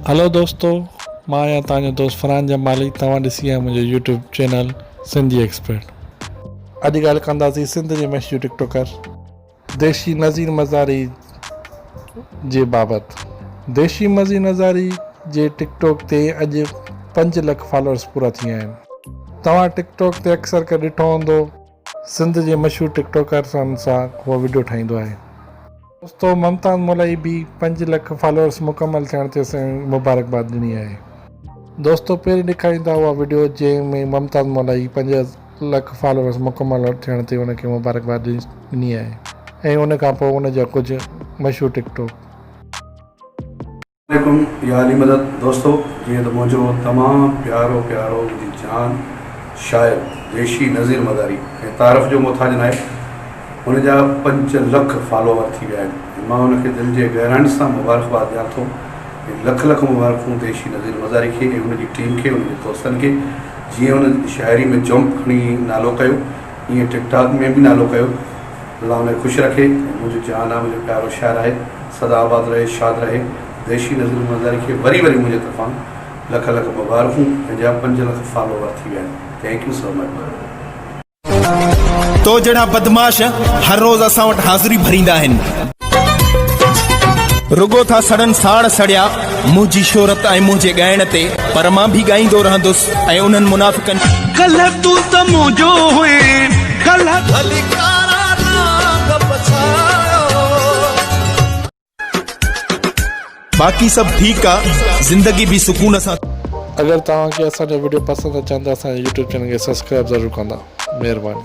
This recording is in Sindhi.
هلو دوستو مان آهيان توهان جو دوست فرحان جمالي توهان ڏسي رهيا آهيو منهنجو يوٽيوب چينل سنڌي ايڪسپرٽ. اڄ ڳالهه ڪنداسين سنڌ جي مشهور ٽڪ ٽوڪر. ديشي نذير مزاري جي بابت. ديشي مزي نظاري جي ٽڪ ٽوڪ تي اڄ پنج لک فالورز پورا ٿي ويا آهن. توهان ٽڪ ٽوڪ تي اڪثر ڪري ڏٺو هوندو. سنڌ جي مشهور ٽڪ ٽاڪرسن سان هو وڊيو ٺاهيندو آهي. دوستو ممتاز مولائي به پنج لک فالوورس مڪمل ٿيڻ تي سائين مبارڪباد ڏني آهي. دوستو پهرين ڏيکارين ٿا اها وڊيو جنهن ۾ ممتاز مولائي پنج لک فالوورس مڪمل ٿيڻ تي ان کي مبارڪباد ڏني آهي ۽ ان کان پوء ان جا ڪجهه مشهور ٽڪ ٽاڪ. عليڪم يا علي مدد دوستو جيئن ته منهنجو تمام پيارو پيارو منهنجي جان شاعر ويشي نظير مداري ۽ تعارف جو محتاج ناهي هن جا پنج لک فالوور ٿي ويا آهن ۽ مان هن کي دل جي گهرائن سان مبارڪباد ڏيان ٿو ۽ لک لک مبارڪون ويشي نظير مزاري کي ۽ هن جي ٽيم کي هن جي دوستن کي جنهن هن شاعري ۾ جنپ کڻي نالو ڪيو ائين ٽڪ ٽاڪ ۾ به نالو ڪيو. الله ۾ خوش رکي منهنجو جهان آ منهنجو پيارو شهر آهي سدا آباد رهي شاد رهي دهشي نظرون منظر کي وري وري منهنجي طرفان لک لک مبارڪون پنهنجا پنج لک فالوور ٿي ويا آهن thank you so much bro. تو جهڙا بدمعاش هر روز اسان وٽ حاضري ڀريندا آهن. رڳو ٿا سڙن ساڙ سڙيا منهنجي شهرت ۽ منهنجي ڳائڻ تي پر مان به ڳائيندو رهندس ۽ انهن منافقن ڪلهه تون ته منهنجو هئين ڪلهه ڀلي ڪارا نانگ پڇايو. باقي سڀ ٺيڪ آ زندگي به سڪون سان. اگر توهان کي اسان جا وڊيو پسند اچن ته اسان جي يوٽيوب چينل کي سبسڪرائب ضرور ڪندا مھرباني.